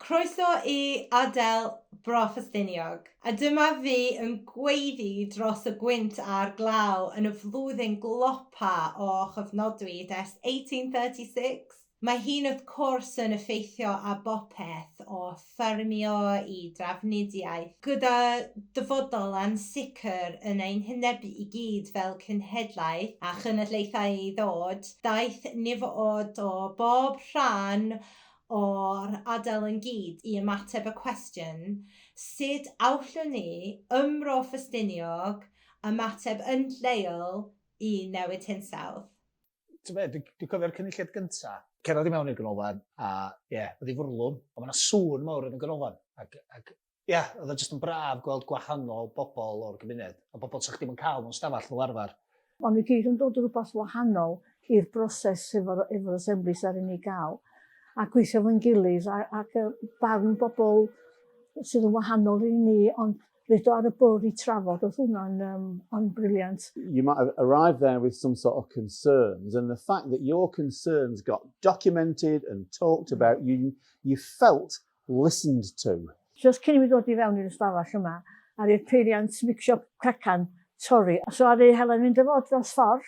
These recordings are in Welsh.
Croeso i Adel Bro Ffestiniog, a dyma fi yn gweiddi dros y gwynt a'r glaw yn y flwyddyn glopa o chofnodwyd ers 1836. Mae hi'n wrth cwrs yn effeithio ar bopeth o ffermio i drafnidiaeth, gyda dyfodol ansicr yn ein hwynebu i gyd fel cenhedlaeth a chynulleidfaoedd i ddod, daeth nifoedd o bob rhan o'r ardal ynghyd i ymateb y cwestiwn, sut allwn ni, ym Mro Ffestiniog, ymateb yn lleol i newid hinsawdd? ti'n be, dwi'n dwi cofio'r cynulliad gynta, cerdded i mewn i'r ganolfan, a ie, yeah, oedd i fwrlwm, ond mae'na sŵn mawr yn y ganolfan. Ac, ac ie, yeah, oedd o jyst yn braf gweld gwahanol bobl o'r gymuned, a bobl sa'ch ddim yn cael mewn stafell fel arfer. Ond ni gyd yn dod rhywbeth wahanol i'r broses efo'r efo assemblies ar ni gael, a gweithio fo'n gilydd, ac barn bobl sydd yn wahanol i ni, ond Rydw ar y bwrdd i trafod, oedd hwnna'n um, on brilliant. You might have arrived there with some sort of concerns and the fact that your concerns got documented and talked mm. about, you, you felt listened to. Just cyn i mi ddod i fewn i'r ystafell yma, ar i'r peiriant mixio cacan, torri. So ar ei helen mynd y fod dros ffordd,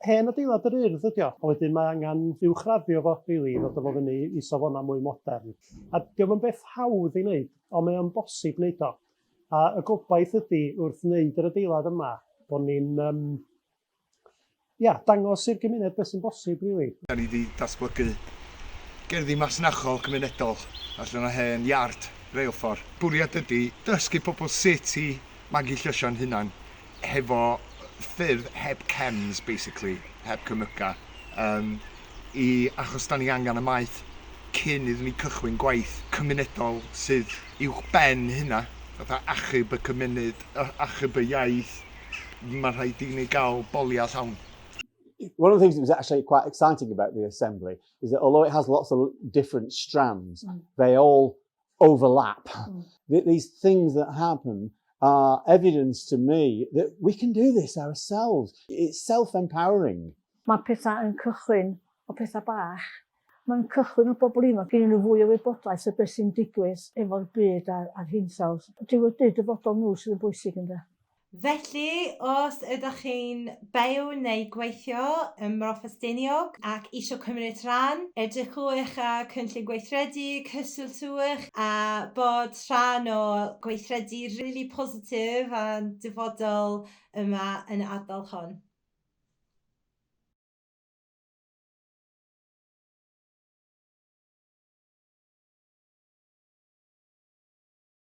Hen adeilad yr Urdd ydi o, a wedyn mae angen uwchraddio fo rili i ddod â fo fyny i safonau mwy modern. A 'di o'm yn beth hawdd ei wneud, ond mae o'n bosib wneud o. A y gobaith ydi wrth wneud yr adeilad yma bod ni'n yym ia, dangos i'r gymuned beth sy'n bosib rili. Dan ni 'di datblygu gerddi masnachol cymunedol allan o hen iard reilffordd. Bwriad ydi dysgu pobl sut i magu llysio'n hunan hefo ffyrdd heb chems basically, heb cemyca, yym i achos 'dan ni angen y maeth cyn iddyn ni cychwyn gwaith cymunedol sydd uwchben hynna, fatha achub y cymuned, achub y iaith, mae'n rhaid i ni gael boliau llawn. One of the things that was actually quite exciting about the assembly is that although it has lots of different strands, mm. they all overlap. Mm. That these things that happen are evidence to me that we can do this ourselves. It's self-empowering. Mae pethau yn cychwyn o pethau bach. Mae'n cychwyn o bobl ifanc i nhw fwy o wybodaeth o beth sy'n digwydd efo'r byd a'r, a'r hinsawdd. Dyw y byd dyfodol nhw sydd yn bwysig ynddo. Felly, os ydych chi'n byw neu gweithio ym Mro Ffestiniog ac eisiau cymryd rhan, edrychwch ar Cynllun Gweithredu, cysylltwch a bod rhan o gweithredu rili positif a'n dyfodol yma yn y ardal hon.